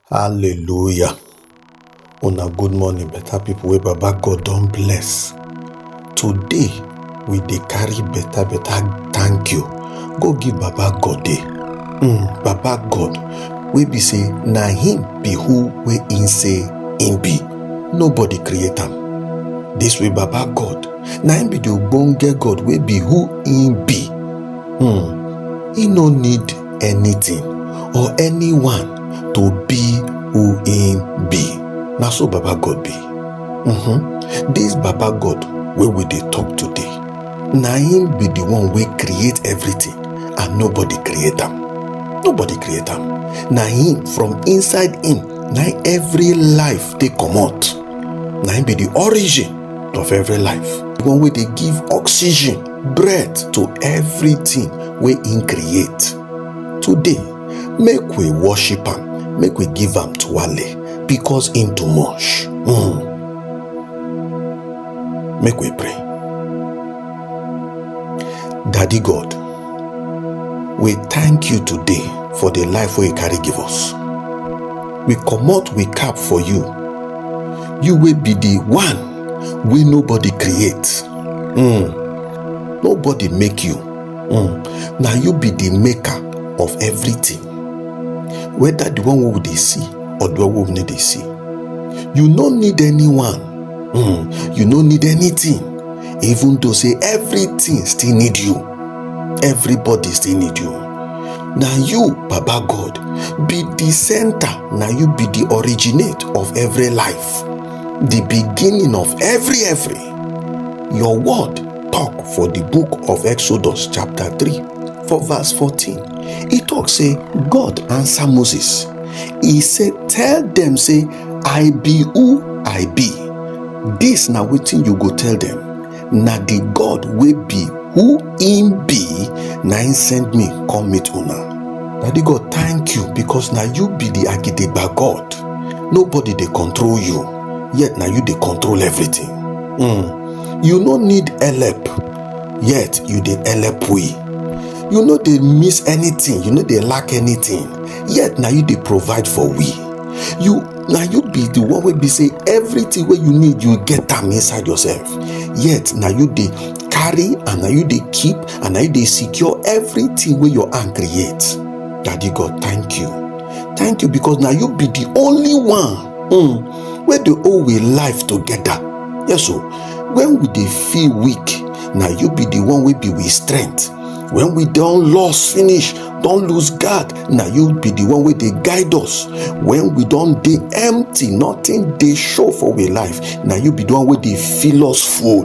Hallelujah. Una good morning, better people wey Baba God don bless. Today, we dey carry better better thank you go give Baba God dey. Mm, Baba God wey be say na him be who wey him say him be. Nobody create am. This way Baba God na him be the ogbonge God wey be who him be. Mm, he no need anything or anyone to be who im be na so baba god be mhm dis baba god wey we dey talk today na im be the one wey create everything and nobody create am nobody create am na him from inside him na him every life take comot na him be the origin of every life the one wey dey give oxygen breath to everything wey him create today make we worship am make we give am to wale because him too much mm. make we pray daddy god we thank you today for the life wey you carry give us we comot we cap for you you wey be the one wey nobody create um nobody make you um na you be the maker of everything whether the one wey we dey see or the one wey we no dey see you no need anyone um you no need anything even though say everything still need you everybody still need you na you baba god be the center na you be the originate of every life the beginning of every every Your word talk for the book of Exodus chapter 3 for verse 14. He talk say God answer Moses. He say tell them say I be who I be. This na wetin you go tell them. Na the God wey be who him be na him send me come meet una. Daddy God thank you because na you be the Agidegba God. Nobody dey control you. yet na you dey control everything mm. you no need help yet you dey help we you no dey miss anything you no dey lack anything yet na you dey provide for we you na you be the one wey be say everything wey you need you get am inside yourself yet na you dey carry and na you dey keep and na you dey secure everything wey your hand create daddy god thank you thank you because na you be the only one um wey dey hold we life together yes o when we dey feel weak na you be the one wey be we strength when we don lost finish don lose guard na you be the one wey dey guide us when we don dey empty nothing dey show for we life na you be the one wey dey fill us full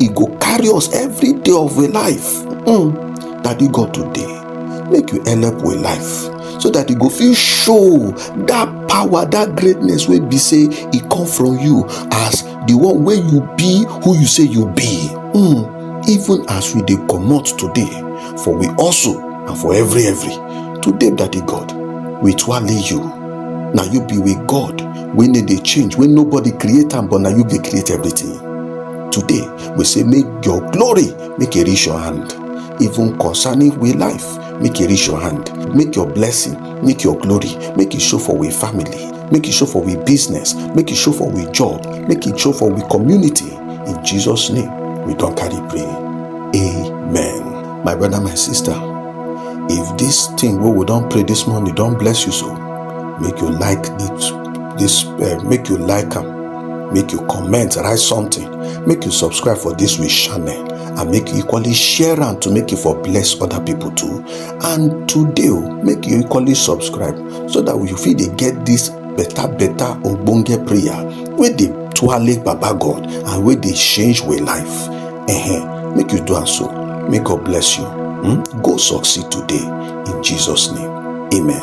e go carry us every day of we life mm. daddy god today make you help we life so that e go fit show that power that greatness wey be say e come from you as the one wey you be who you say you be mm. even as we dey comot today for we also and for every every today daddy god we twale you na you be we god wey no dey change wey nobody create am but na you dey create everything Today, we say make your glory make e reach your hand. Even concerning we life, make e reach your hand. Make your blessing, make your glory, make e show for we family, make e show for we business, make e show for we job, make e show for we community. In Jesus' name, we don carry pray. Amen. My brother, my sister, if this thing wey we don pray this morning don bless you so, make you like it. This uh, make you like am. make you comment write something make you subscribe for this week channel and make you equally share am to make you for bless other people too and today oh, make you equally subscribe so that you fit dey get this better better ogbonge prayer wey dey twale baba god and wey dey change wey life -huh. make you do am so may god bless you hmm? go succeed today in jesus name amen.